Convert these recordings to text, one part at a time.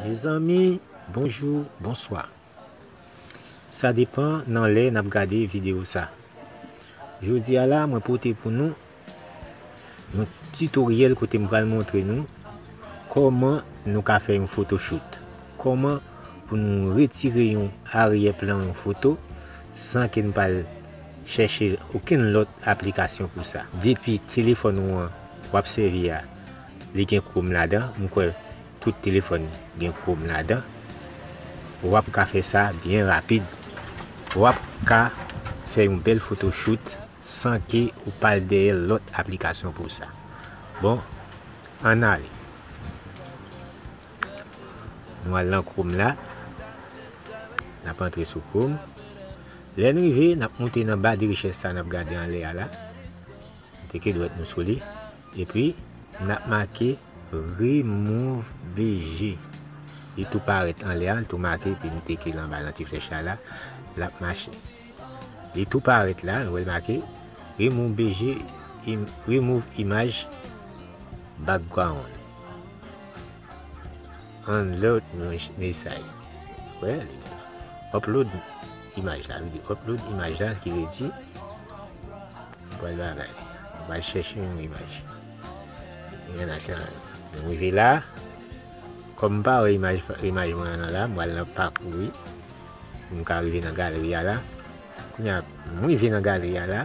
Mezanmi bonjou bonswa sa depan nan lè nap gade video sa jodi a la mwen pote pou nou yon tutoriel kote m pral montre nou koman nou ka fè yon photoshoot koman pou nou retire yon aryè plan yon foto san ke n pa al chèche okenn lòt aplikasyon pou sa. Depi telefòn ou an wap sèvi a li gen chrome ladan, m kwè tout telefòn gen chrome ladan, wap ka fè sa byen rapid. Wap ka fè yon bèl foto shoot san ke ou pa al dèyè lòt aplikasyon pou sa. Bon, ann ale. Nou al nan Chrome la, nap antre sou Chrome, lè n rive nap moute nan ba de richès sa nap gade anlè a la, teke dwèt nou sou li, epi nap make remove BG, li tou parèt anlè a, li tou make, epi nou teke l anba nan ti flèch la la, lap mache. Li tou parèt la, nou wè l make Remove BG Remove Image Background Unload Message Wè, li di Upload Image la, li di Upload Image la, ki vle di Nou pral bagay, nou pral chèche yon imaj Yon nan chan an Nou rive la, kòm m pa wè imaj mwen an nan la, m pral nan pakou li M ka rive nan galeri a la. Kounye a, m rive nan galeri a la.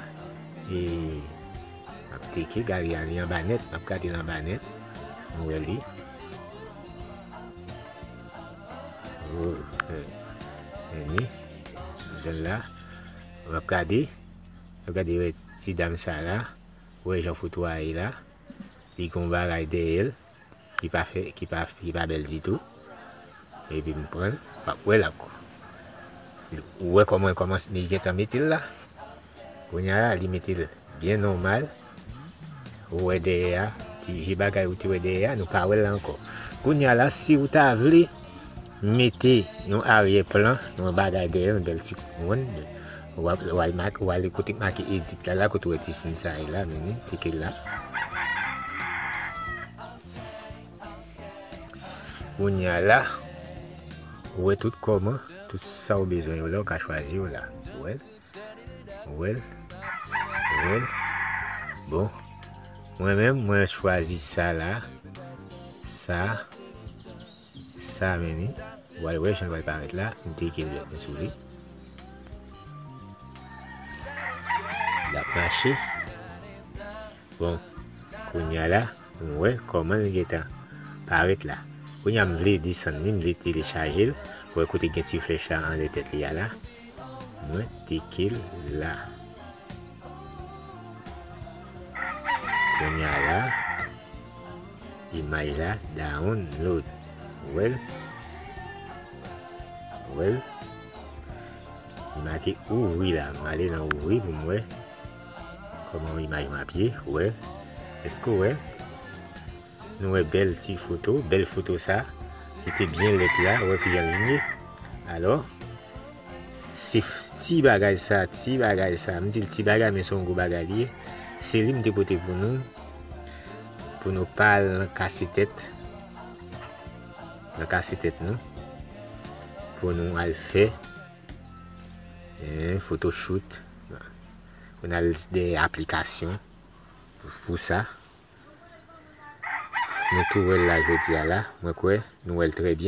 E, m ap teke galeri a, li anba nèt. M ap gade l anba nèt. M wè li. O, e, e ni. M gen l la. M ap gade. M ap gade wè ti dam sa la. Wè jan foto a ye la. Li gen yon bagay dèyè l. ki pa fè ki pa ki pa bèl ditou epi m pranl map wèl ak ou wè kòman kòman li gentan metel la kounya la li metel byen nòmal ou wè dèyè a ti vye bagay ou te wè dèyè a nou pa wèl la ankò kounya la si ou ta vle Mete yon aryè plan, yon bagay dèyè, yon bèl ti kouròn. Ou ale kote ki make edit la la, kote ou wè ti siy sa a ye la, menen, klike la. Kounye a la, ou wè tout kòm an, tout sa ou bezwen yo la, ou ka chwazi yo la. Ou wè l? Ou wè l? Ou wè l? Bon, mwen menm, mwen chwazi sa la, sa a. Sa menm wi, ou al wè jan l pral parèt la, m te ekri lèt mwen sou li. L ap mache, bon, kounye a la, m wè kòman l gen tan parèt la. Kounye a m vle desann li, m vle telechaje l, ou wè kote gen ti flèch la anlè tèt li a la, mwen teke l la. Konya la imaj la down load Ou wèl Ou wèl Li make ouvri la M ale nan ouvri pou m wè Koman imaj map ye Ou wèl Eske ou wèl Nou wè bèl ti foto, bèl foto sa ki te byen lèd la, wè ki jan li ye. Alò, se ti bagay sa, ti bagay sa, m di l ti bagay men se yon gwo bagay li ye, se li m te pote pou nou, pou nou pa al nan kase tèt, nan kase tèt nou, pou nou al fè yon foto shoot, pou nou al dèyè aplikasyon pou sa. Nou tou wèl la jodia la mwen kwè nou wèl trè byen.